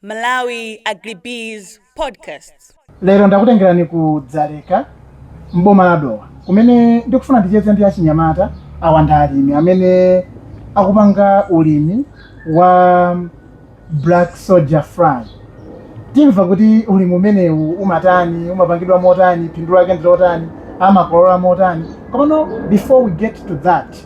Malawi Agribusiness Podcasts. Lero ndakutengerani ku Dzaleka m'boma la Dowa kumene ndikufuna ndicheze ndi achinyamata awa ndi alimi amene akupanga ulimi wa black soldier fly. Timva kuti ulimi umenewu umatani, umapangidwa motani, phindu lake ndi lotani, amakolola motani. Komano before we get to that,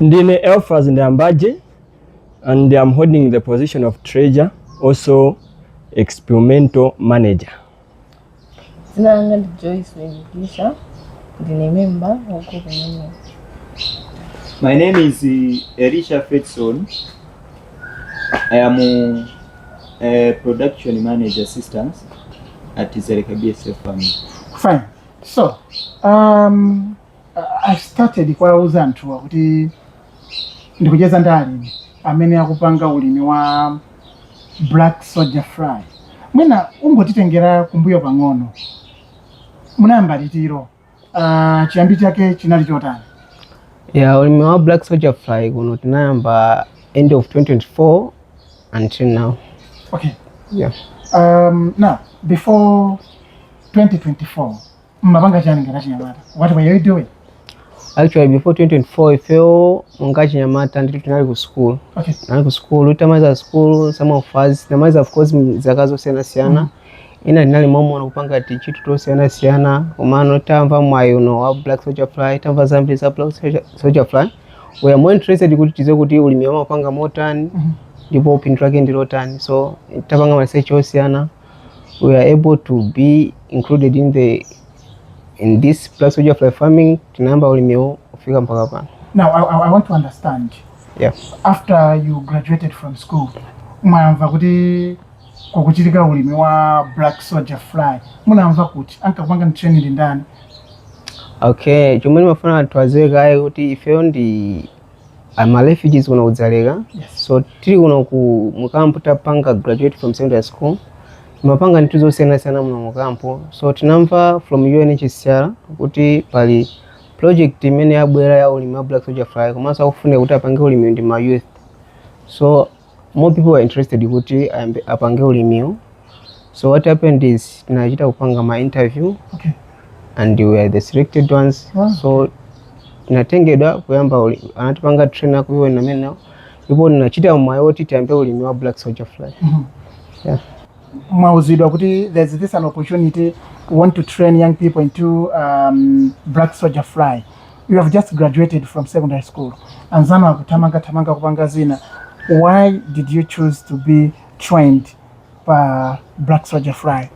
Ndine Elfaz Ndambaje and I'm holding the position of treasurer, also experimental manager. Dzina langa ndi Joyce Wengisha. Ndine member wa group imeneyi. My name is uh, Elisha Fredson. I am uh, a production manager assistant at Zereka BSF Farm. Fine. So, um, I- started kuwauza anthuwa kuti ndikucheza ndi alimi amene akupanga ulimi wa black soldier fly mwina ungotitengera kumbuyo pang'ono munayamba liti uh, chiyambi chake chinali chotani ya ulimi wa black soldier fly kuno tinayamba end of 2024 until now okay yeah. um, now before 2024 mumapanga chani ngati achinyamata what were you doing actually before 2024 ifeyo monga achinyamata ndithu tinali ku school okay tinali ku school tamaliza school some of us tinamaliza of course zaka zosiyanasiyana ena tinali momuno kupanga tintchito tosiyanasiyana komano tamva mwayi uno wa black soldier fly tamva zambiri za black Soldier- soldier fly we are more interested kuti tidziwe kuti ulimiwu amapanga motani ndipo phindu lake ndilotani so tapanga maresearch osiyana we are able to be included in the in this black soldier fly farming tinayamba ulimiwo kufika mpaka pano Now, I, I I want to understand. yeah. After you graduated from school, mwamva kuti kukuchitika ulimi wa black soldier fly munamva kuti ankakupangani training ndi ndani okay chomwe ndimafuna anthu adziwe kaye kuti ifeyo ndi ama refugees kuno ku Dzaleka so tili kuno ku mukampu tapanga graduate from secondary school timapanga zinthu zosiyanasiyana muno mukampu so tinamva from UNHCR kuti pali project imene yabwera ya ulimi wa black soldier fly komanso akufuna kuti apange ulimi ndi ma youth so more people were interested kuti apange ulimiwu so what happened is tinachita kupanga ma interview okay. and we are the selected ones wow. so tinatengedwa kuyamba uli- anatipanga train aku UN amenewo ndipo tinachita mwayi woti tiyambe ulimi wa black soldier fly Mhm. yeah. mwauzidwa kuti there's this an opportunity we want to train young people into um, black soldier fly you have just graduated from secondary school anzanu akuthamanga thamanga kupanga zina why did you choose to be trained pa black soldier fly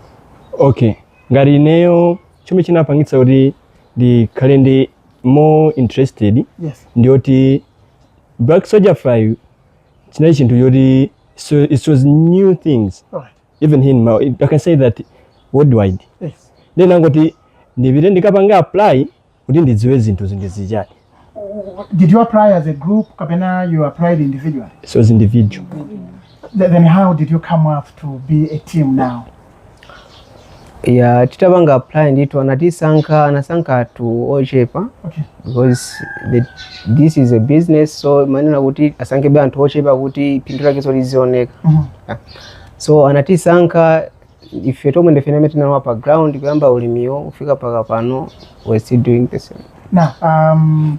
okay ngati ineyo chomwe chinapangitsa kuti ndikhale ndi more interested yes ndiyoti black soldier fly chinali chinthu choti so it was new things Alright. even here in Malawi, i can say that worldwide Yes. nde ndinangoti ndipite ndikapange apply kuti ndidziwe zinthu zi ndi zichani Did you apply as a group? Kapena, you applied individually. so as individual Th- Then how did you come up to be a team now? ya titapanga apply ndithu anatisankha anasankha anthu ochepa Okay. because the, this is a business so amanena kuti asankhebe anthu ochepa kuti phindu lakenso lizioneka Mhm. so anatisankha ife tomwe ndife amene tinalowa pa ground kuyamba ulimiwo kufika mpaka pano we still doing the same Now, um,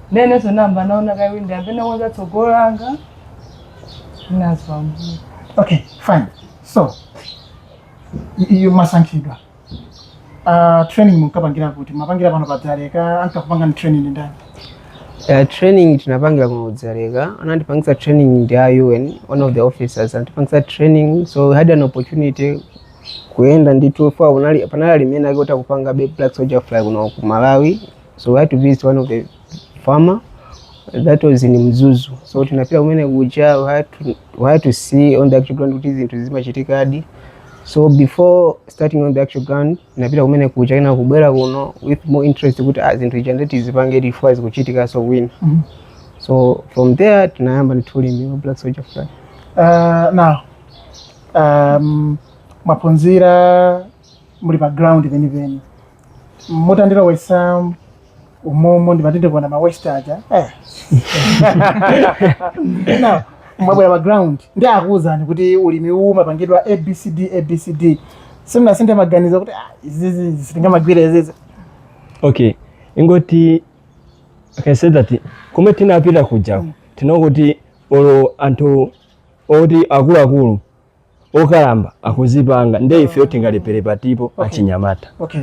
Inenso nayamba naona kaye windi apena konza tsogolo langa. Nazwa mbuye. Okay, fine. So, y- you mwasankhidwa. Uh, training munkapangira kuti mumapangira pano padzaleka ankakupangani training ndani? Uh, training tinapangira kuno kudzaleka anatipangisa training ndi a un one of the officers anatipangisa training so we had an opportunity kuyenda ndithu kunali panali alimi ena ake oti akupanga black soldier fly kuno ku malawi So we had to visit one of the farmer that was in Mzuzu. So tinapita kumene kuja we had to, we had to see on the actual ground kuti zinthu zimachitikadi. So before starting on the actual ground tinapita kumene kuja kenaka kubwera kuno with more interest kuti ah, zinthu zija nde tizipange ife zikuchitikanso kwina. Mhm. So from there tinayamba ndithu ulimi wa Black Soldier Fly. Uh, now um, mwaphunzira muli pa ground penipeni mutandilowetsa umomo ndimati ndikuona ma waste aja eh. Now, mwabwera pa ground nde akuwuzani kuti ulimi uwu umapangidwa abcd abcd simunasinthe maganizo kuti "Ah, izizi sitingamagwire izizi okay ingoti I can say that kumwe tinapita kuja tinaona kuti olo anthu oti akuluakulu okalamba akuzipanga nde ifeyo tingalephere pati ife achinyamata okay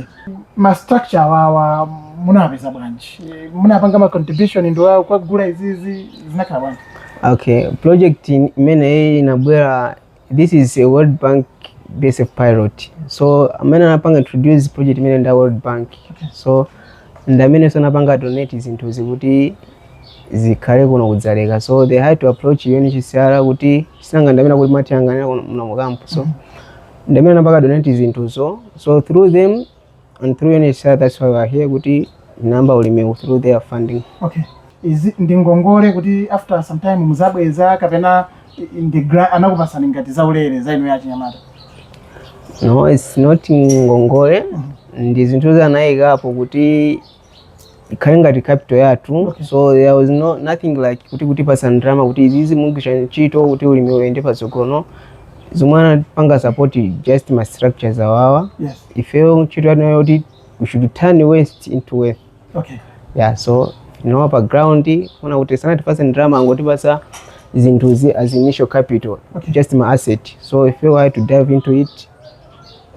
ma structure awawa munawapeza bwanji Eh, munapanga ma contribution nde nkukagula izizi zinakhala bwanji okay project in- imene inabwera this is a world bank BSF pilot so amene anapanga introduce project imeneyi nda world bank so ndamenenso anapanga donate zinthu zikuti zikhale kuno kudzaleka so they had to approach UNHCR kuti sinanga ndamene akuti amatiyang'anira muno mu camp so ndamene anapanga donate zinthuzo so through them and through UNHCR that's why we are here kuti tinayamba ulimiwu through their funding okay izi ndi ngongole kuti after some time muzabweza kapena i- ndi gra- anakupasani ngati zaulere za inu achinyamata no it's not ngongole ndi zinthu zoti anayikapo kuti ikhale ngati capital yathu okay. so there was no, nothing like kutipatsa ndalama kuti izizi mugwiritsa ntchito kuti ulimi uyende patsogolo no zomwe anapanga support just ma structures awawa yes. ifeyo ntchito yathu yoti we should turn waste into wealth okay. yeah so no pa ground ona kuti sanatipatse ndalama angotipatsa zinthuzi as initial capital okay. just ma asset so if you were to dive into it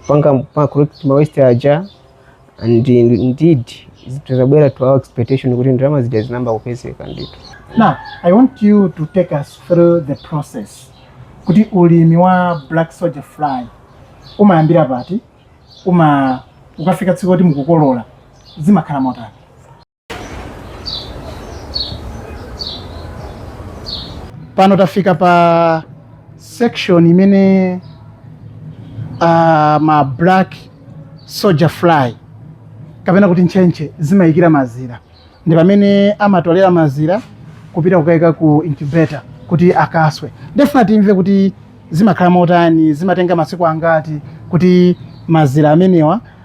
panga collect ma waste aja and indeed zinabwera to our expectation kuti ndalama zija zinayamba kupezeka ndithu Now, I want you to take us through the process. Kuti ulimi wa black soldier fly umayambira pati uma ukafika tsiku loti mukukolola zimakhala motani pano tafika pa section imene uh, ma black soldier fly kapena kuti ntchentche zimayikira mazira ndi pamene amatolera mazira kupita kukayika ku incubator kuti akaswe ndikufuna timve kuti zimakhala motani zimatenga masiku angati kuti mazira amenewa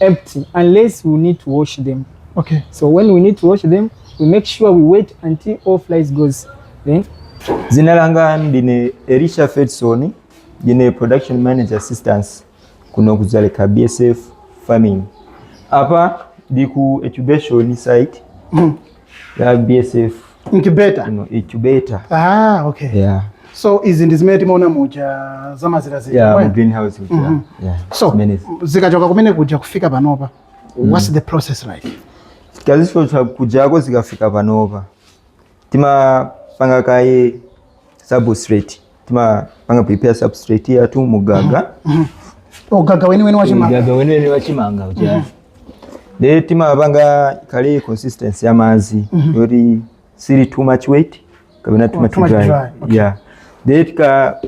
empty unless we need to wash them. Okay. So when we need to wash them, we make sure we wait until all flies goes. Then Zina langa ndine Elisha Fedson, ndine production manager assistance kuno kuzaleka BSF farming. Apa ndi ku incubation site ya bsf incubator incubator ah okay yeah so izi ndi zimene timaona muja za mazira zija yeah right? greenhouse mm -hmm. yeah so zikachoka kumene kuja kufika panopa mm. what's the process like tikazichotsa kujako zikafika panopa timapanga kaye substrate timapanga prepare substrate yathu mu gaga gaga weniweni wachimanga gaga weniweni wachimanga uja mm -hmm. timapangako consistency ya madzi mm -hmm. yoti sili too much wet kapena too much dry, dry. Okay. yeah de tika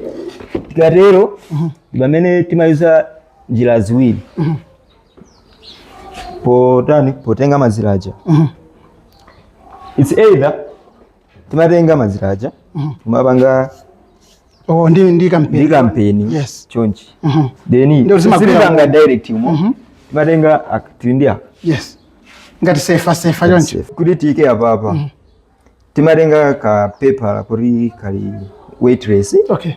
tikatero mm -hmm. ndi pamene timayuza njira ziwiri mm -hmm. potani potenga mazira aja mm -hmm. it's either timatenga mazira aja timapanga oh ndi ndi kampeni ndi kampeni yes chonchi Mhm. then ndiye zimagwira sitipanga umo. direct umo timatenga ak- tili ndi ka yes ngati sefa sefa chonchi kuti tiike apapa timatenga ka paper kuti kali weightless okay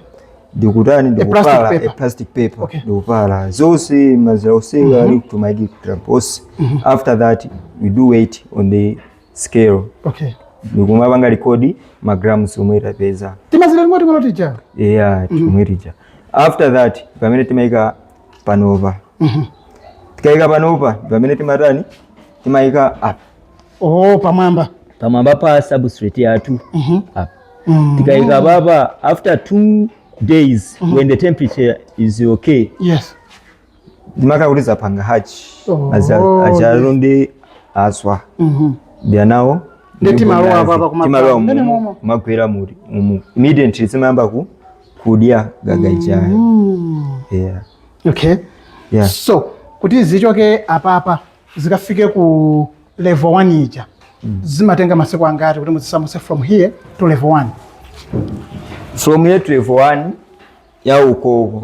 ndikutani ndikupala a plastic paper Okay. ndikupala zonse mazira onse ali kutumaidi kutrampose after that we do weigh on the scale okay ndikumapanga record ma grams omwe tapeza timazira ting'onoting'ono tija yeah mhm. timene tija after that pamene timaika panopa mhm. tikaika panopa pamene timatani timaika up oh pamwamba pamwamba pa substrate yathu mhm. up mm. tikaika papa after two days when the temperature is okay yes maka kuti zapanga hachi Oh. achalu ndiye aswa Mhm. ndiye anawo Ndi timalowa apa apa kumapanga. timalowa Ndani mumu momo? kumagwera mu mumu immediately zimayamba ku kudya gaga ijayo Mm. yeah okay yeah so kuti zichoke apapa zikafike ku level 1 ija zimatenga masiku angati kuti muzisamutse from here to level 1 from here to level 1 ya ukoko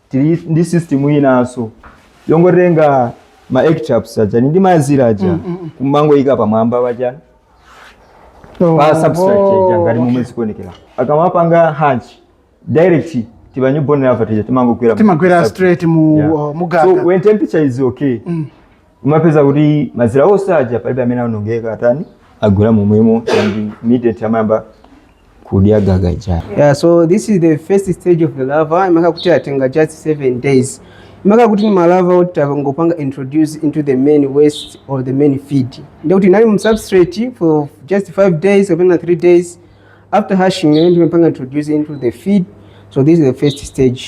tili ndi system inanso yongotenga ma egg traps ajani ndiye mazira aja kumangoyika pamwamba pajani pa substrate ija ngati momwe zikuonekera akamapanga hatch direct ti ma newborn larva tija timangogwera mu timagwera substrate. straight mu Yeah. uh, mu so gaga when temperature is okay umapeza kuti mazira onse aja palibe amene amaonongeka atani agwera momwemo and immediate amayamba kudya gaga ijayo yeah so this is the first stage of the larva imakhala kuti atenga just seven days imakhala kuti ndi malava oti tangopanga introduce into the main waste or the main feed ndiye kuti anali mu substrate for just five days kapena three days after hatching ndiye timapanga introduce into the feed so this is the first stage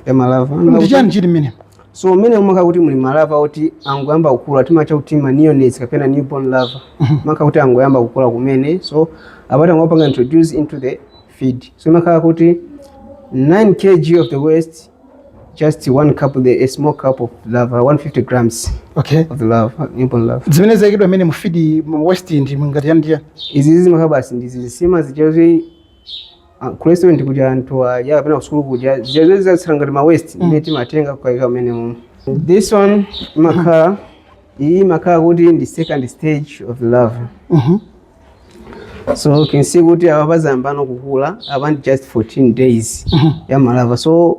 ya malava Imakhala kuti- ndi chani chili mmene So mmene umakhala kuti muli malava oti angoyamba kukula timatcha kuti ma neonates kapena newborn larva imakhala kuti angoyamba kukula kumene so apa tangopanga introduce into the feed so imakhala kuti 9 kg of the waste just one cup the, a small cup of larva 150 grams okay of the larva newborn larva zimene zayikidwa mmene mu feed mu waste ndi ngati yandiya izi zimakhala basi ndi zinsima zijazi ah, ku restaurant kuja anthu aja kapena kusukulu kuja zija zatsala ngati ma waste imene timatenga kukaika mmene mumu this one imakhala iyi imakhala kuti ndi second stage of larva Mhm. so can see kuti apa zayambano kukula apa ndi just 14 days ya malava so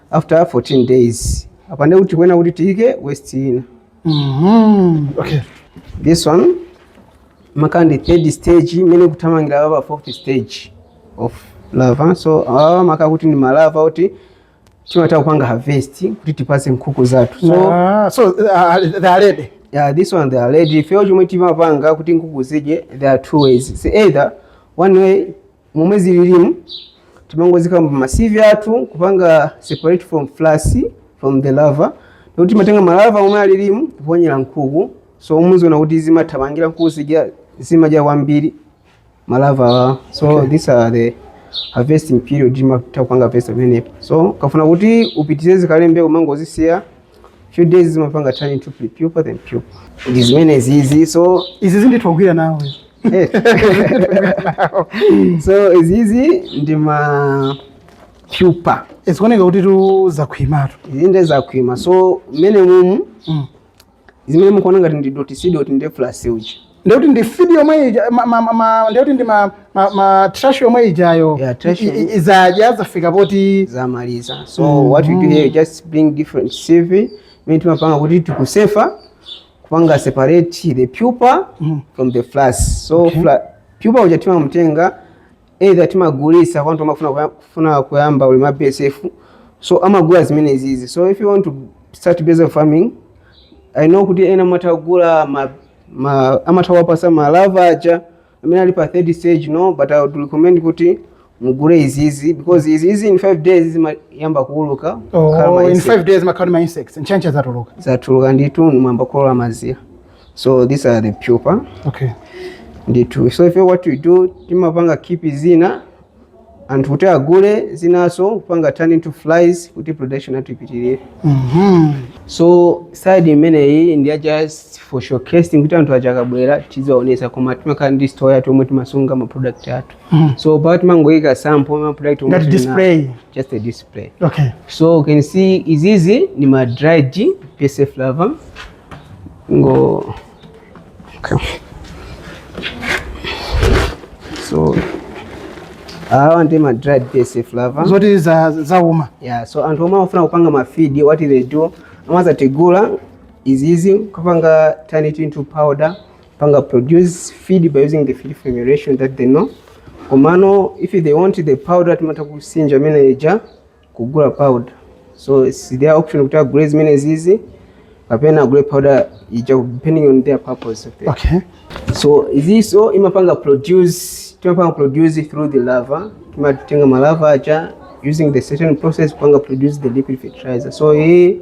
after 14 days apa ndiye kuti kuyenera kuti tiyike waste ina Mhm. Okay. this one imakhala ndi third stage imene kuthamangira apapa fourth stage of larva so awa amakhala kuti ndi malava oti timatha kupanga harvest kuti tipatse nkhuku zathu so Ah, so uh, they are ready. yeah, this one they are ready ifeyo chomwe timapanga kuti nkhuku zidye there are two ways It's either one way momwe zililimu timangoziika mma sieve athu kupanga separate from frass from the larva kuti timatenga malava omwe alilimu kuponyera nkhuku so muziona kuti zimathamangira nkhuku zija zimadya kwambiri malava awa so okay. these are the harvesting period timatha kupanga peza pamenepo so ukafuna kuti upitirize zikhale mbewu umangozisiya few days zizimapanga turn into prepupa then pupa ndi zimene zizi so izi zindithogwira nawe eh. so izizi ndi ma pupa zikuoneka kutitu zakhwimatu izi nde zakhwima so mmene mumu Mm. zimene mukuona ngati ndi doti si doti nde frass uja ndekuti ndi fidi yomwe ija ma- ma- ma- ma- ndekuti ndi ma- ma- ma trash yomwe ijayo Yeah, trash i- i- yomwe. izaja azafika poti zamaliza so what we do here just bring different sieve imene timapanga kuti tikusefa kupanga separate the pupa from the frass so okay. fla, pupa uja timamutenga either timagulisa kwa anthu amafuna kuya- kufuna kuyamba ulimi wa BSF so amagula zimene zizi so if you want to start BSF farming i know kuti ena matagula ma amatha kuwapasa ma lava aja amene ali pa third stage no but i would recommend kuti mugule izizi because izizi in 5 days zimayamba kuuluka kukhala ma Oh, in insect. five days mmakhala ma insects ntchentche zatuluka zatuluka ndithu mwayamba kukolola mazira so these are the pupa okay ndithu so ife what we do timapanga keep zina anthu kuti agule zinaso kupanga turn into flies kuti production athu ipitirire Mhm. so side imeneyi ndi ya just for showcasing kuti anthu aja akabwera tiziwaonesa koma timakhala ndi store yathu yomwe timasunga ma product athu Mhm. so pa timangoyika sample ma product omwe Ngati tili nawo. display. just a display Okay. so you can see izizi ni ma dried BSF lava ngo so awa ndi ma dried BSF lava zoti za- zauma yeah so anthu omwe amafuna kupanga ma feed what they do amazatigula izizi kupanga turn it into powder panga produce feed by using the feed formulation that they know komano if they want the powder timatha kusinja imene ija kugula powder so it's their option kuti agule zimene zizi kapena agule powder ija depending on their purpose of it okay so iziso imapanga produce timapanga produce through the lava timatenga malava aja using the certain process kupanga produce the liquid fertilizer so hii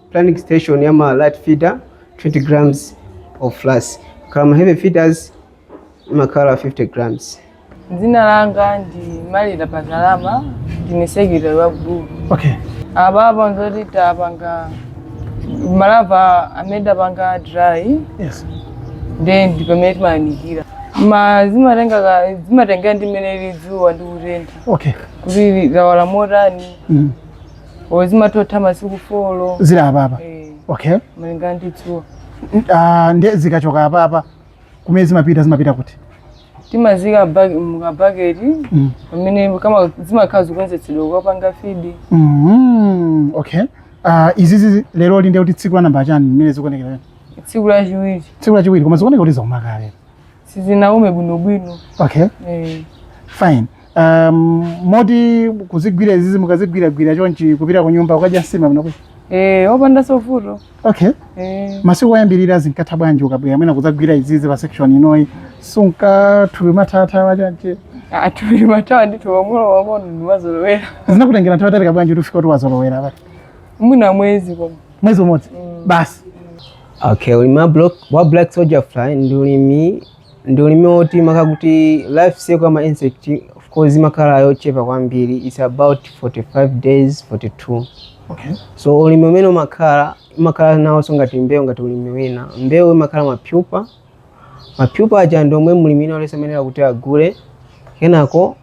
planting station ya ma light feeder 20 grams of frass kaya ma heavy feeders imakhala 50 grams dzina langa ndi malira pazalama ndine sekretary wa gulu okay apapa mpoti tapanga malava amene tapanga dry yes nde ndi pamene timayanikira ma zimatenga ka- zimatengera ndi mmene lili dzuwa ndi kutentha okay kuti lawala motani mm. o zimatotha masiku folo zili apapa Eh, okay malinga ndi dzuwa N- ah, nde zikachoka apapa kumene zimapita zimapita kuti timazika bag- mukabaketi Mm. pamene kama zimakhala zikukonzetsedwa kukapanga feed Mhm, okay Ah, izizi leroli nde kuti tsiku la namba chani mmene zikuonekera tsiku lachiwiri tsiku lachiwiri koma zikuoneka kuti zauma kale sizinaume bwinobwino okay eh. fine um, moti kuzigwira izizi mukazigwiragwira chonchi kupita ku nyumba kukadya nsima munakapita eh, opanda sopo okay eh. masiku oyambirira zinkatha bwanji ukabwera mwina kudzagwira izizi pa section inoyi sunkathupi mathatha wachonchi atupiri matawa ndithu pang'ono pang'ono ndinazolowera zinakutengera nthawi yaitali bwanji kuti ufike kuti wazolowera pati mwina mwezi koma mwezi umodzi basi Okay, ulimi wa block wa black soldier fly ndi ulimi ndi ulimi woti makhala kuti life cycle ya ma insect of course imakhala yochepa kwambiri it's about 45 days 42 Okay. so ulimi umene umakhala imakhala nawonso ngati mbewu ngati ulimi wina mbewu imakhala mapyupa mapyupa aja ndi omwe mlimi wina aliyense amayenera kuti agule kenako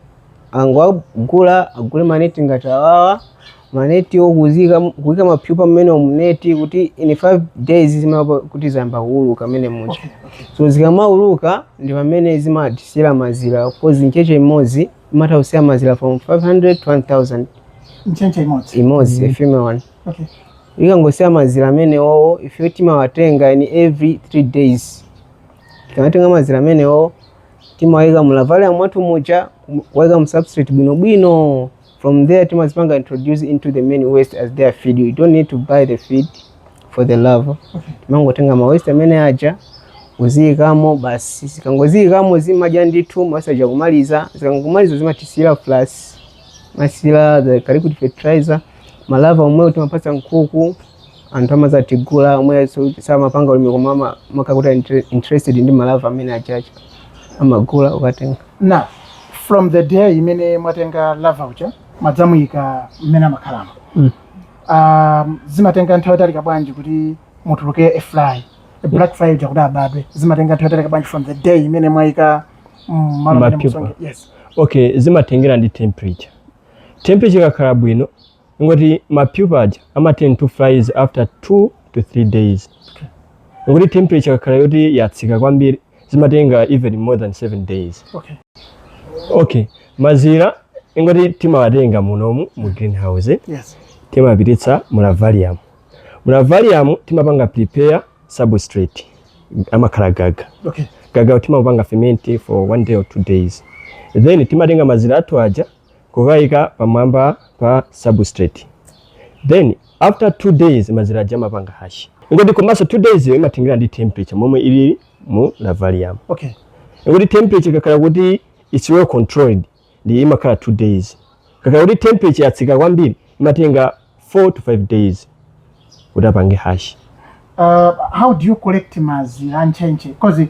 akangogula agule maneti ngati awawa maneti okuika kuika mapyupa mmenemo mneti kuti in 5 days zimakhala kuti zayamba kuuluka mmene muja so zikamauluka ndi pamene zimatisiyira mazira coz ntchentche imodzi imatha kusiya mazira from 500 to 1000 ntchentche imodzi imodzi a female one ikangosiya mazira amenewowo ifeyo timawatenga in every 3 days tikamatenga mazira amenewowo timawayika mu larvarium mwathu muja kuwayika mu substrate bwinobwino from there timazipanga introduce into the main waste as their feed you don't need to buy the feed for the larva timangotenga ma waste amene aja kuziyikamo basi zikangoziyikamo zimadya ndithu ma waste aja kumaliza zikangomaliza zimatisiyira frass as well as the liquid fertilizer malava omwewo timapatsa nkhuku anthu amazatigula omwe so- samapanga ulimi koma ama- makhala kuti a inter- interested ndi malava amene ajawa amagula kukatenga now from the day imene mwatenga lava uja mwadzamuyika mmene amakhalamo Mm. um, zimatenga nthawi yaitali bwanji kuti mutuluke a fly a black fly uja kuti abadwe zimatenga nthawi yaitali bwanji from the day imene mwayika mm, malo amene Mapyupa. mukusonge- yes okay zimatengera ndi temperature Temperature ikakhala bwino ngoti ma pupa aja amaturn to flies after 2 to 3 days ngoti temperature ikakhala yoti yatsika kwambiri zimatenga even more than 7 days okay okay mazira ngoti timawatenga munomu mu greenhouse yes. timapititsa mu larvarium mu lavalium timapanga prepare substrate amakhala gaga okay gaga timapanga ferment for one day or two days then timatenga mazira athu aja kukayika pamwamba pa substrate then after two days mazira aja amapanga hash ingoti komanso two days yo imatengera ndi temperature momwe ili mu lavalium okay ingoti temperature ikakhala kuti it's well controlled ndi imakhala 2 days kakhala kuti temperature yatsika kwambiri imatenga 4 to 5 days kuti apange hash uh, how do you collect mazira a ntchentche because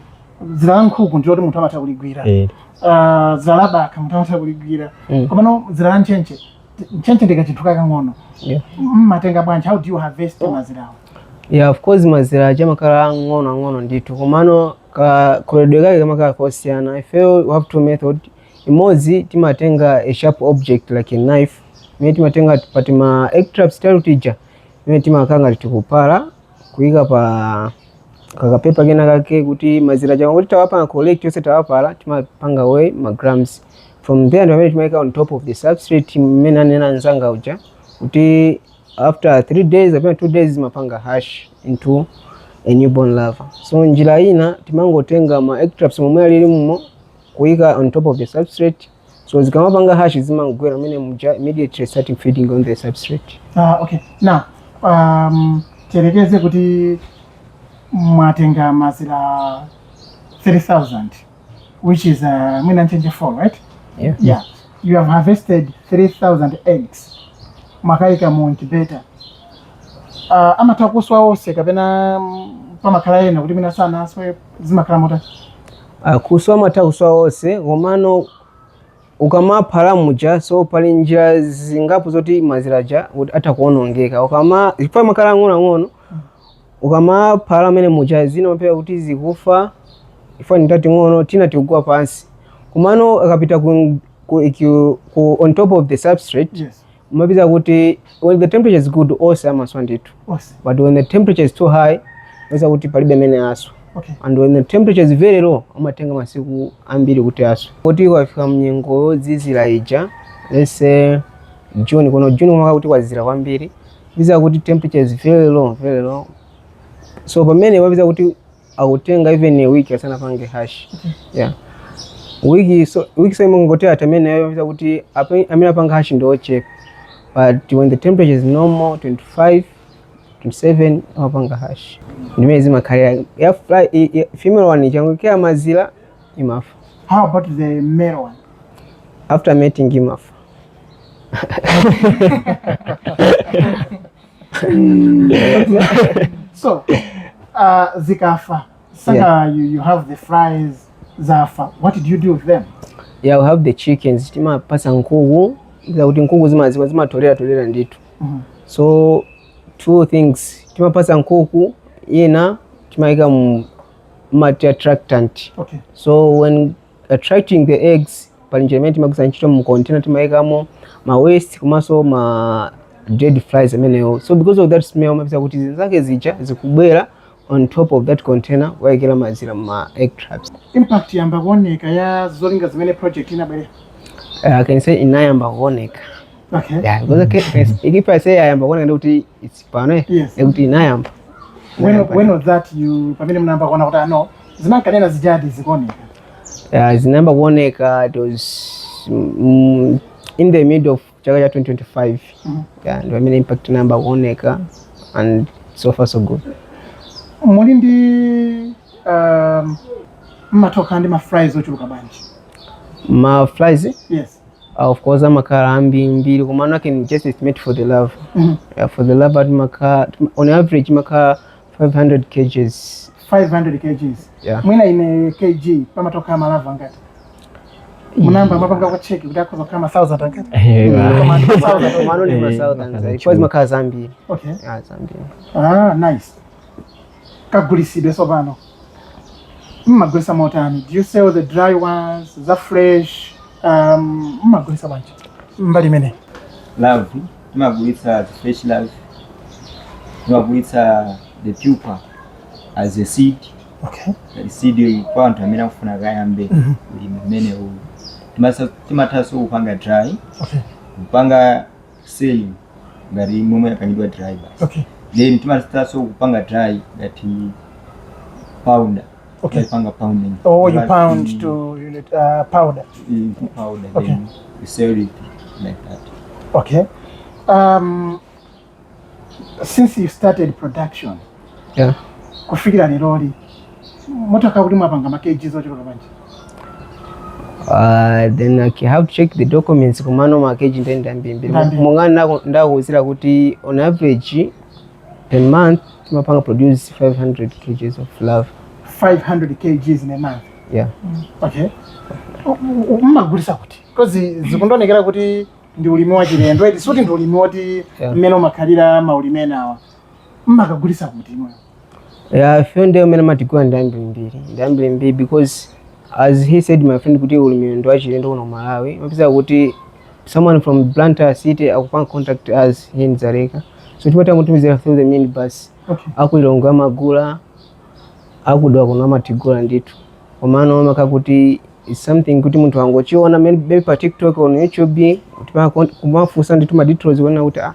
dzira la nkhuku ndi loti munthu amatha kuligwira eh, uh, dzira la bakha munthu amatha kuligwira Mm. komano dzira la ntchentche t- ntchentche ndi kachinthu kakang'ono Yeah. mmatenga bwanji how do you harvest mazirawo yeah of course mazira aja amakhala ang'ono ang'ono ndithu komano kakoledwe kake kamakhala kosiyana ifeyo we have two methods imodzi timatenga a sharp object like a knife imene timatenga pa tima egg traps tathu tija imene timakhala ngati tikupala kuyika pa kakapepa kena kake kuti mazira aja tikati tawapanga collect yonse tawapala timapanga weigh ma grams from there ndi pamene timayika on top of the substrate mmene ananena anzanga uja kuti after 3 days kapena 2 days zimapanga hash into a newborn larva so njira ina timangotenga ma egg traps momwe alili mumo kuyika on top of the substrate so zikamapanga hash zimangogwera mene muja immediately starting feeding on the substrate Ah, okay. Now, um, tiyerekeze kuti mwatenga mazira 3000 which is uh, mwina ntchentche 4 right Yeah. yeah you have harvested 3000 eggs mwakayika mu incubator uh, amatha kuswa onse kapena mm, pamakhala ena kuti mwina sanaswe zimakhala motani Ah, kuswa amatha kuswa onse komano ukamapala muja so pali njira zingapo zoti mazira aja kuti atha kuonongeka ukama chifukwa amakhala ang'onoang'ono ukamapala mene muja zina umapeza kuti zikufa chifukwa ndi tating'ono tina tikugwa pansi komano akapita ku, ku, ku, ku, on top of the substrate Yes. umapeza kuti when the temperature is good onse amaswa ndithu Onse. but when the temperature is too high umapeza kuti palibe amene aswa Okay. and when the temperature is very low amatenga masiku ambiri kuti aswe kuti kwafika mnyengo yozizira ija let's say June kuno June umakhala kuti kwazizira kwambiri umapeza kuti temperature is very low very low so pamene umapeza kuti akutenga even a week asanapange hash yeah wiki so wiki so imangotha pamenepo umapeza kuti ape- amene apanga hash ndi ochepa but when the temperature is normal 25 27 amapanga hash ndimene zimakhalira ya fly i- i- female one ikangoikira mazira imafa How about the male one? after mating imafa so uh, zikafa saka yeah. you, you have the flies zafa what did you do with them yeah we have the chickens timapasa nkuku zakuti nkuku zimaziwa zimatolera tolera ndithu mm -hmm. so two things timapasa nkuku ina timaika ngati attractant okay. so when attracting the eggs pali njira imene timagwiritsa ntchito mu container timayikamo ma waste komanso ma dead flies amenewo so because of that smell umapeza kuti zinzake zija zikubwera on top of that container wayikira mazira ma egg traps impact yayamba kuoneka ya zolinga zimene project inabwerera uh, I can say inayamba kuoneka okay yeah because I can, if I say yayamba kuoneka ndekuti it's pano eh, Yes. ndekuti inayamba when, when was that you pamene mnayamba kuona kuti ah no zimankanena zijadi zikuoneka uh, zinayamba kuoneka it was mm, in the mid of chaka cha 2025 Mhm. yeah, ndi pamene impact inayamba kuoneka and so far so good muli ndi um, mmatokhala ndi ma flies ochuluka bwanji ma flies yes uh, of course amakhala ambirimbiri komano I can just estimate for the larvae Mhm. yeah, for the larvae ati makhala on average amakhala 500 kgs 500 kgs Yeah. mwina in a kg pamatokhala ma larvae angati munayamba mwapangako check kuti akhoza kukhala ma 1000 angati Koma ndi 1000. komano ndi ma Eh, thousand amakhala zambiri. Coz zimakhala zambiri okay Ah, zambiri ah nice kagulisidwe tsopano mmagulisa motani do you sell the dry ones za fresh um, mmagulisa bwanji mbali imene larvae timagulitsa the fresh larvae timagulitsa the pupa as a seed okay. the seed kwa anthu amene akufuna akayambe mm -hmm. ulimi umenewu timathanso kupanga dry okay. kupanga sell ngati momwe yapangidwa dry basi okay. then timathanso kupanga dry ngati powder Okay. Nkuipanga pounding. Oh, you But pound in- to unit uh, powder. in powder. Okay. Then you sell it like that. Okay. Um, since you started production, Yeah. kufikira leroli motaka kuti mwapanga ma kgs ochuluka bwanji Uh, then I ca- have to check the documents komano ma kg nde ndi ambirimbiri Ndi ambiri. monga ndakuuzira kuti on average per month timapanga produce 500 kgs of larva 500 kgs in a month yeah okay U- u- u- mmagulisa kuti because zikundonekera kuti ndi ulimi wa chilendo eti suti ndi ulimi woti Yeah. mmene umakhalira maulimi enawa mmakagulisa kuti imwe yeah ifeyo anthu amene amatigula ndi ambiri mbiri ndi ambiri mbiri because as he said my friend kuti ulimi ndi wachilendo kuno ku malawi umapeza kuti someone from Blantyre city akupanga contact us here in Dzaleka so timatha kumutumizira through the minibus Okay. aku Lilongwe amagula aku Dowa kuno amatigula ndithu komano makamaka kuti is something kuti munthu angochiona maybe pa tiktok on youtube kumafunsa ndithu ma details kunena kuti ah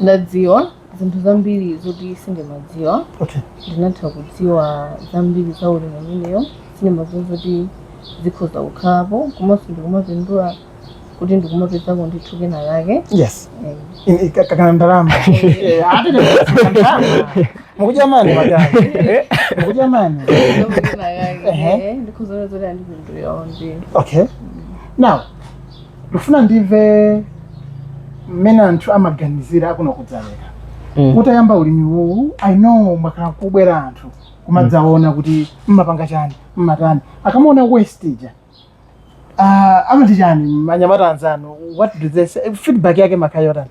ndadziwa zinthu zambiri zoti sindimadziwa okay ndinatha kudziwa zambiri za ulimi umenewu sindimadziwa zoti zikhoza kukhalapo komanso ndikumapindula kuti ndikumapezako ndithu kena lake yes Eh, In- i- ka- kana ndalama Eh, ati ndi kutsika ndalama. mukudya mani madam mukudya mani ndikuona kena lake, Ehe. eh, ndikhoza kuona zoti wandipindulira onje okay now ndifuna ndimve mmene anthu amaganizira akuno ku Dzaleka Mm. utayamba ulimi uwu i know mwakhala kukubwera anthu kumadzaona kuti mmapanga chani mmatani akamaona waste ija uh, amati chani manyamata anzanu what do they say feedback yake imakhala yotani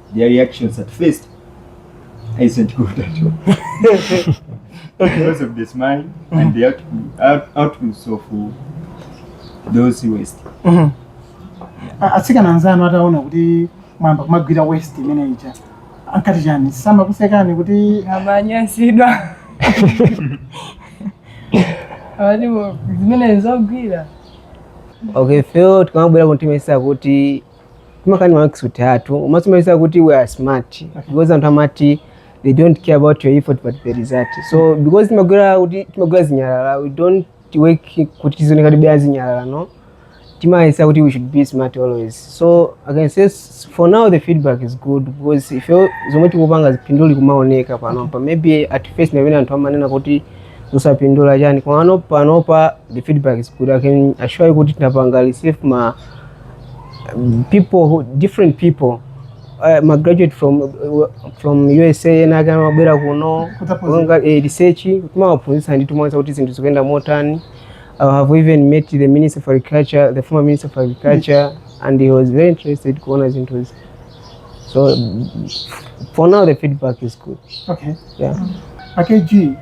their reactions at first isn't good at all because of the smell and the output, out, outputs of those waste A- atsikana anzanu ataona kuti mwayamba kumagwira waste imene ija ankati chani samakusekani kuti amanyansidwa amati bo- zimene zogwira okay feel tikamabwera kuno timayesa kuti timakani maakisuti athu timaonetsa kuti we are smart because anthu amati they don't care about your effort but the result so because timagwira kuti timagwira zinyalala we don't work kuti tizioneka tili pa zinyalala no timayesa kuti we should be smart always so i can say s- for now the feedback is good because ife zomwe tikupanga phindu likumaoneka panopa maybe at first ndi pamene anthu amanena kuti zosapindula chani komano panopa the feedback is good i can assure you kuti tinapanga receive ma people different people uh, ma graduate from uh, from USA ena ake amabwera kuno kudzaphunzira. kupanga eh, research timawaphunzitsa nde timawaonetsa kuti zinthu zikuyenda motani I have even met the minister for agriculture the former minister for agriculture and he was very interested kuona zinthuzi so for now the feedback is good Okay. yeah. AKG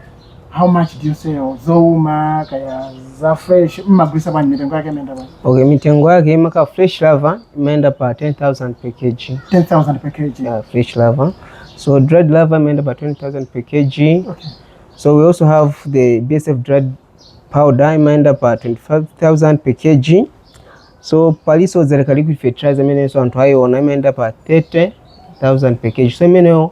how much do you sell zouma kaya za fresh mmagulisa bwanji mitengo yake imayenda bwanji okay mitengo yake makamaka fresh larva imayenda pa 10000 per kg 10000 per kg yeah, fresh larva so dried larva imayenda pa 20000 per kg okay. so we also have the bsf dried powder imayenda pa 25000 per kg so paliso Dzaleka liquid fertilizer imenenso anthu ayiona imayenda pa 30000 per kg so imeneyo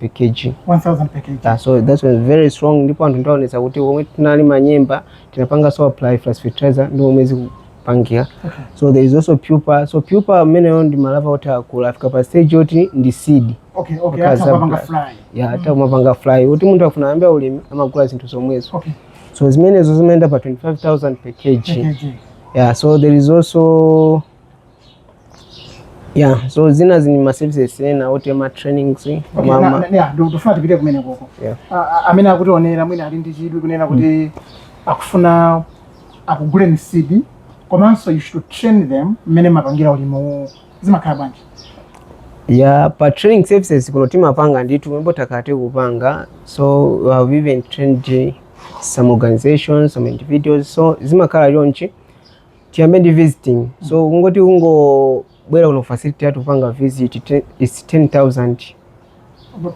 per kg 1000 per kg Yeah, so that's very strong ndipo anthu ndaonetsa kuti omwe tinalima nyemba tinapanga so apply frass fertilizer ndi omwe zikupangika okay so there is also pupa so pupa ameneyo ndi ma larva oti akula afika pa stage yoti ndi seed okay okay Because amatha kupanga I'm- fly ya amatha kumapanga fly kuti munthu akufuna ayambe ulimi amagula zinthu zomwezo okay so zimenezo zimayenda pa 25000 per kg per kg yeah so there is also ya so zinazi ndi ma services ena oti ma trainings Okay, ma- na- ma- na- yeah, ndu- ndifuna tipite kumenekoko Yeah. A- a- amene akutionera mwina ali ndi chidwi kunena kuti akufuna akuguleni seed komanso you should train them mmene mumapangira ulimiwu. zimakhala bwanji ya pa training services kuno timapanga ndithu mwinanso takhala tiku panga so we have even trained some organizations some individuals so zimakhala chonchi tiyambe ndi visiting so kungoti kungobwera ku facility yathu kupanga visit te- it's 10000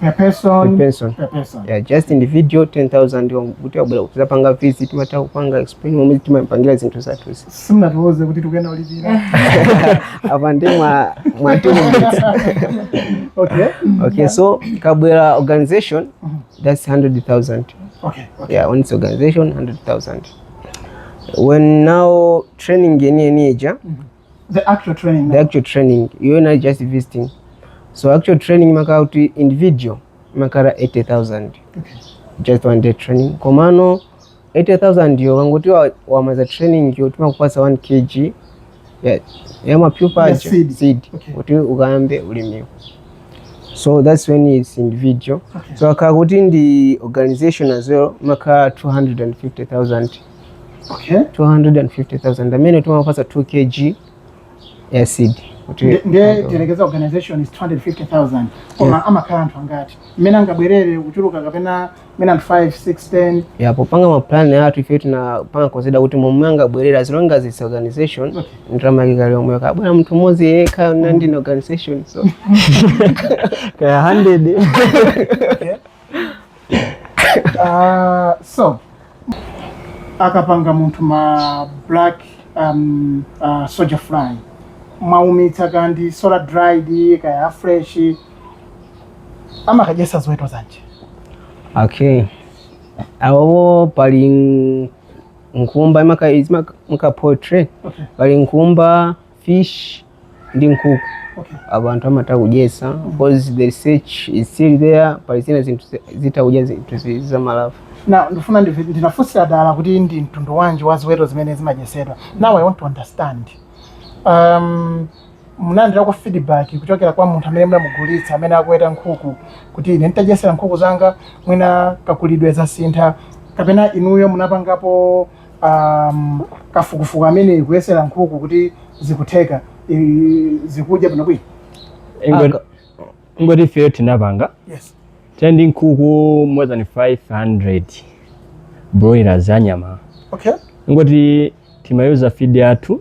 per person Per person. per person yeah, just individual 10000 kuti wabwera kuzapanga visit timatha kupanga explain momwe timapangira zinthu zathuzi simunatiuze kuti tikuyenera kulipira apa ndi mwa mwa two minutes. okay okay so ikabwera organization that's 100000 okay okay yeah when it's organization 100000 when now training yeniyeni ija the actual training the actual training iyo inali just visiting so actual training imakhala kuti individual imakhala 80000 okay. just one day training komano 80000 yo ukangoti wamaliza training yo timakupasa 1 kg ya, ya ma pupa Ya aja seed. seed Okay. kuti ukayambe ulimiwo so that's when it's individual Okay. so akakhala kuti ndi organization as well imakhala 250000 okay 250000 amene timapasa 2 kg ya seed kuti Nde- nde tiyerekeze organization is 250000 koma amakhala anthu angati mmene angabwerere kuchuluka kapena mwina 5 6 10 ya popanga mapulani athu ife tinapanga consider kuti momwe angabwerere as long as it's organization okay. ndalama yake ikhala yomweyo akabwera munthu mmodzi yekha kaya ndi mm. organization so kaya 100 okay. uh, so akapanga munthu ma black um, uh, soldier fly mwaumitsa kaya ndi solar dried kaya fresh amakadyetsa ziweto zanji okay apopo pali n- nkhumba imaka- izimaka- maka poultry okay pali nkhumba fish ndi nkhuku okay abantu amatha kudyesa because the research is still there pali zina zinthu zi- zitha kudya zinthu zi- zamalava now ndifuna ndive- ndinafunsira dala kuti ndi mtundu wanji wa ziweto zimene zimadyetsedwa now i want to understand um, munalandirako feedback kuchokera kwa munthu amene munamugulitsa amene akuweta nkhuku kuti ine nditadyetsera nkhuku zanga mwina kakulidwe zasintha kapena inuyo munapangapo um, kafukufuku ameneyu kuyesera nkhuku kuti zikutheka i- zikudya bwinobwino Ingo- ingoti ifeyo tinapanga yes tili ndi nkhuku more than 500 broilers anyama okay ingoti timayuza feed yathu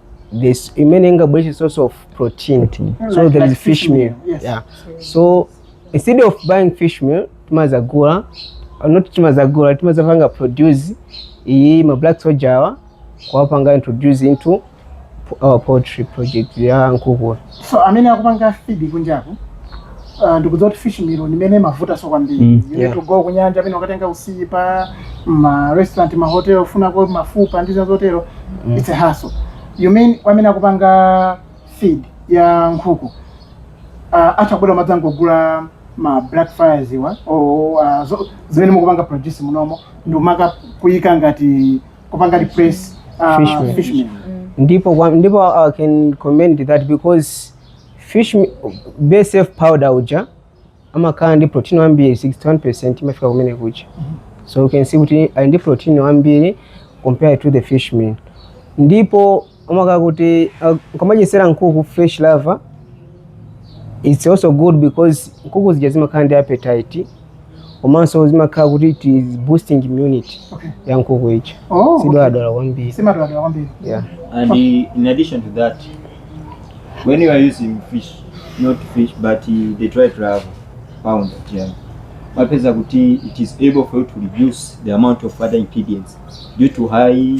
this imene ingabwere source of protein mm, so like, there like is fish meal, meal. Yes. yeah so instead of buying fish meal timazagula uh, not timazagula timazapanga produce iyi ma black soja awa kuwapanga introduce into our poultry project ya nkukula so amene akupanga feed kunjaku uh, ndikudziwa kuti fish meal ndi imene imavuta so kwambiri Mm, you need yeah. to go kunyanja pena ukatenga usipa ma restaurant ma hotel ufunako mafupa ndi zina zotero Mm. it's a hassle you mean kwa amene akupanga feed ya nkhuku uh, atha kubwera kudzangogula ma black flies awa or uh, zo- zimene mukupanga produce munomo ndikumaka kuyika ngati kupanga replace uh, Fishmeal. fishmeal. ndipo kwa- ndipo i can comment that because fish me- bsf powder uja amakhala ndi protein wambiri 61 percent imafika kumene kuja so you can see kuti ali ndi protein wambiri compared to the fish meal ndipo amakhala kuti uh, ukamadyetsera nkhuku fresh larva it's also good because nkhuku zija zimakhala ndi appetite komanso zimakhala kuti it is boosting immunity Okay. ya nkhuku ija Oh, sidwaladwala kwambiri simadwaladwala kwambiri yeah. And uh, in addition to that, when you are using fish, not fish, but uh, the dried larva powder uja. Umapeza kuti it is able for you to reduce the amount of other ingredients due to high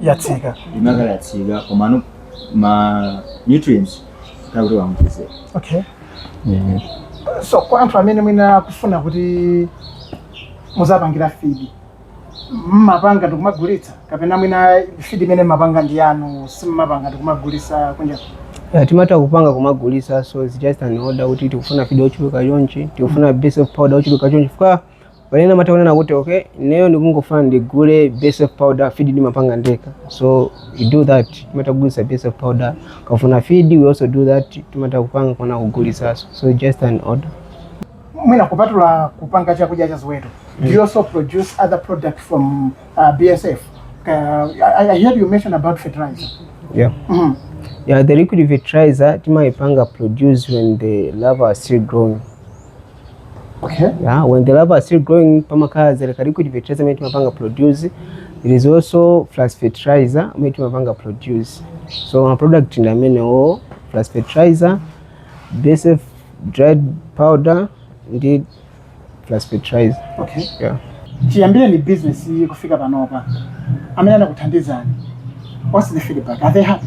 yatsika imakhala yatsika komano ma nutrients takuti wamkize okay so kwa anthu amene mwina akufuna kuti muziwapangira fidi mmapanga ndikumagulitsa kapena mwina fidi imene mmapanga ndi yanu simmapanga ndikumagulitsa kunja Yeah, timatha kupanga kumagulitsa so it's just an order kuti tikufuna fidi ochuluka chonchi tikufuna bsf powder ochuluka chonchi fika pali ena amatha kunena kuti okay ineyo ndikungofuna ndigule bsf powder feed ndimapanga ndekha so we do that timatha kugulitsa bsf powder akafuna feed we also do that timatha kupanga kuwagulitsanso so just an order mwina kupatula kupanga chakudya cha ziweto do you also produce other products from uh, bsf uh, I, i heard you mention about fertilizer yeah mm. yeah the liquid fertilizer timaipanga produce when the larva are still growing Okay. Yeah, when the larvae are still growing, pamakhala zeri ka liquid fertilizer amene timapanga produce. There is also frass fertilizer amene timapanga produce. So ma product ndi amenewo frass fertilizer, BSF dried powder ndi frass fertilizer. Okay. Yeah. Chiyambireni business iyi kufika panopa. Amene anakuthandizani. What's the feedback? Are they happy?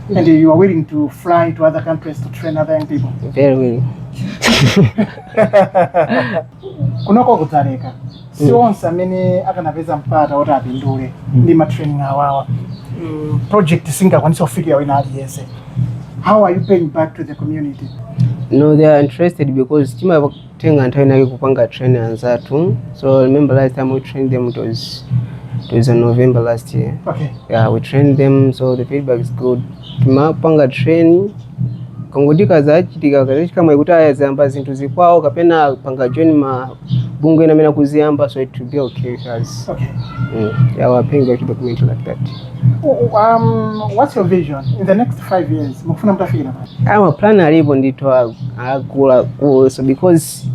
And you are willing to fly to other countries to train other young people? Very willing. kunoko ku Dzaleka si onse amene akanapeza mpata woti apindule ndi matraining awawa Mm, project singakwanisa kufikira wina aliyense how are you paying back to the community No, they are interested because tima tenga nthawi inayake kupanga train anzathu so remember last time we trained them it was it was in november last year okay yeah we trained them so the feedback is good timapanga train kungoti kazachitika kazachitika mwayi kuti azayamba zinthu za kwawo kapena panga join mabungwe ena amene akuziyamba so it will be okay with us okay mm. yeah, we're paying back to the community like that Um, what's your vision in the next five years? Mukufuna mtafikira pati? Ah ma plan alipo ndithu akuluakulu so because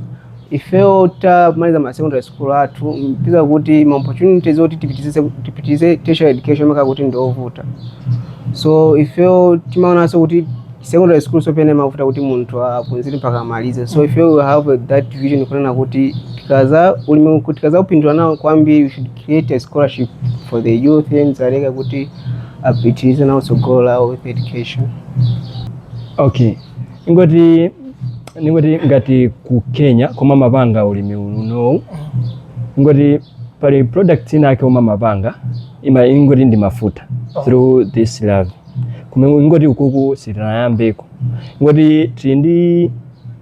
ifeyo tamaliza ma secondary school athu mupeza kuti ma opportunities zoti tipitirize tipitirize tertiary education amakhala kuti ndiovuta so ifeyo timaonanso kuti secondary school so pena zimavuta kuti munthu apunzire mpaka amalize so ifeyo we have that vision kunena kuti tikaza ulimi tikazapindula nawo kwambiri we should create a scholarship for the youth in Dzaleka kuti apitirize nawo tsogolo lawo with education okay ingoti ningoti ngati ku kenya komwe amapanga ulimi unowu ingoti pali product inayake yomwe amapanga ima ingoti ndi mafuta through this larvae koma ingoti ukuku sitinayambeko ingoti tili ndi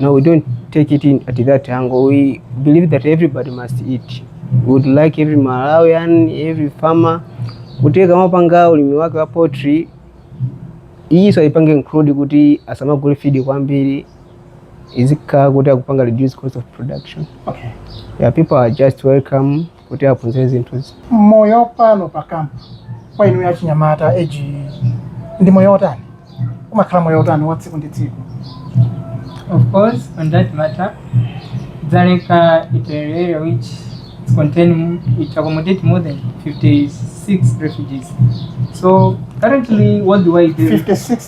No, we don't take it in at that angle. We believe that everybody must eat. We would like every Malawian, every farmer kuti kamapanga ulimi wake wa poultry iyiso aipange include kuti asamagule feed kwambiri izikhala kuti akupanga reduce cost of production. Okay. Yeah, people are just welcome kuti aphunzire zinthuzi moyo pano pa kampu kwa inu ya chinyamata eti ndi moyo otani umakhala moyo otani wa tsiku ndi tsiku Of course, on that matter, Dzaleka is an area which contain it accommodate more than 56 refugees. So currently, worldwide, there is 56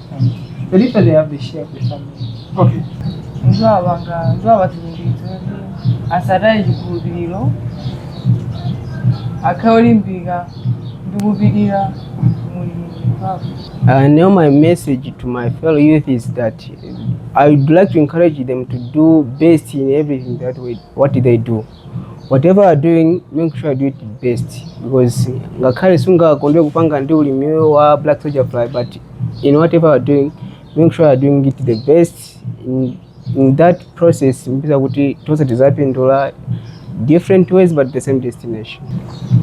Literally, I have the share of the family. Okay. nzabanga nzabatuliriza asataye ekikulubiriro akawulimbirira ndikubirira mulimu Uh, now my message to my fellow youth is that I would like to encourage them to do best in everything that we, what they do. whatever you are doing make sure you do it best because ngakhale sungakonde kupanga ndi ulimiyo wa black soldier fly but in whatever you are doing make sure you are doing it the best in, in that process mupeza kuti tonse tizapindula different ways but the same destination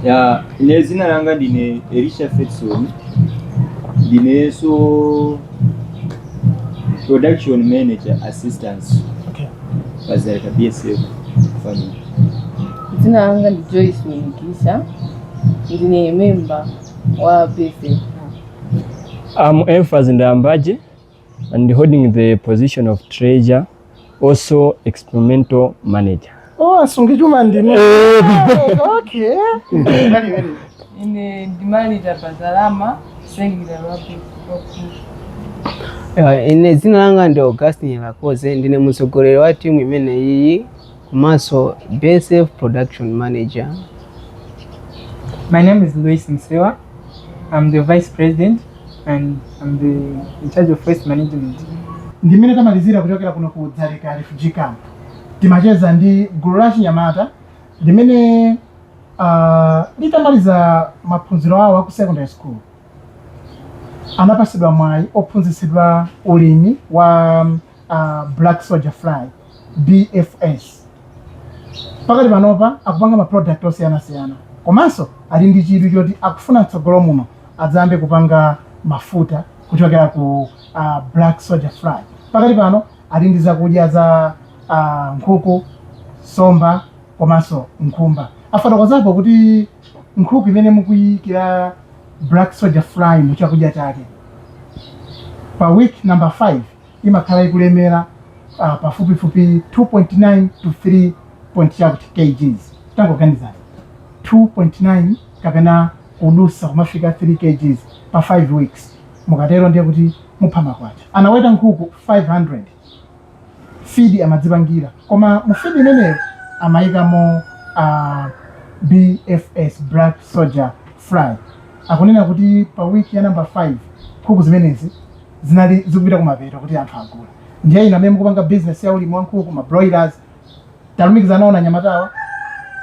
ya ine zina langa ndine elisha fedson ndineso production manager assistance Okay. pazaleka bsf family Dzina langa ndi Joyce Mwinikisha. Ndine member wa BSF. I'm Emphas Ndambaje and holding the position of treasurer also experimental manager oh asungi chuma ndinu okay ine ndi manager pa za ndalama sengera wapi Eh, ine dzina langa ndi augustin lakoze ndine mtsogoleri wa timu imeneyi komanso BSF Production Manager. My name is Luis Msewa. I'm the vice president and I'm the in charge of waste management. ndimene tamalizira kuchokera kuno ku dzaleka refugee camp timacheza ndi gulu la chinyamata limene uh, litamaliza maphunziro awo aku secondary school anapatsidwa mwayi ophunzitsidwa ulimi wa black soldier fly bsf pakati panopa akupanga ma product osiyanasiyana komanso ali ndi chidwi choti akufuna mtsogolo muno adzayambe kupanga mafuta kuchokera ku uh, black soldier fly pakati pano ali ndi zakudya za uh, nkhuku nsomba komanso nkhumba afotokozapo kuti nkhuku imene mukuyikira black soldier fly mu chakudya chake pa week number 5 imakhala ikulemera uh, pafupifupi 2.9 to 3 point chakuti kgs tangoganizani 2.9 kapena kudutsa kumafika 3 kgs pa 5 weeks mukatero ndiye kuti mupha makwacha anaweta nkhuku 500 feed amadzipangira koma mu feed imeneyo amayikamo uh, bsf black soldier fly akunena kuti pa week ya number 5 nkhuku zimenezi zinali zikupita kumapeto kuti anthu agula ndiye inu amene mukupanga business ya ulimi wa nkhuku ma broilers talumikizana nawoni anyamatawa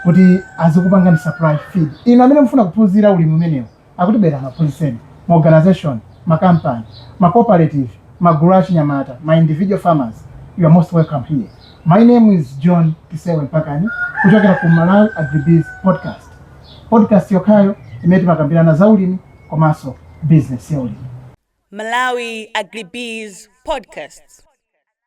kuti azikupangani supply feed inu amene mufuna kuphunzira ulimi umenewu akuti bwerani akuphunzitseni ma organization ma company ma cooperative ma gulu a chinyamata ma individual farmers you are most welcome here my name is john kisebwe mpakani kuchokera ku malawi agribiz podcast podcast yokhayo imene timakambirana za ulimi komanso bizinesi ya ulimi. Malawi Agribees Podcasts.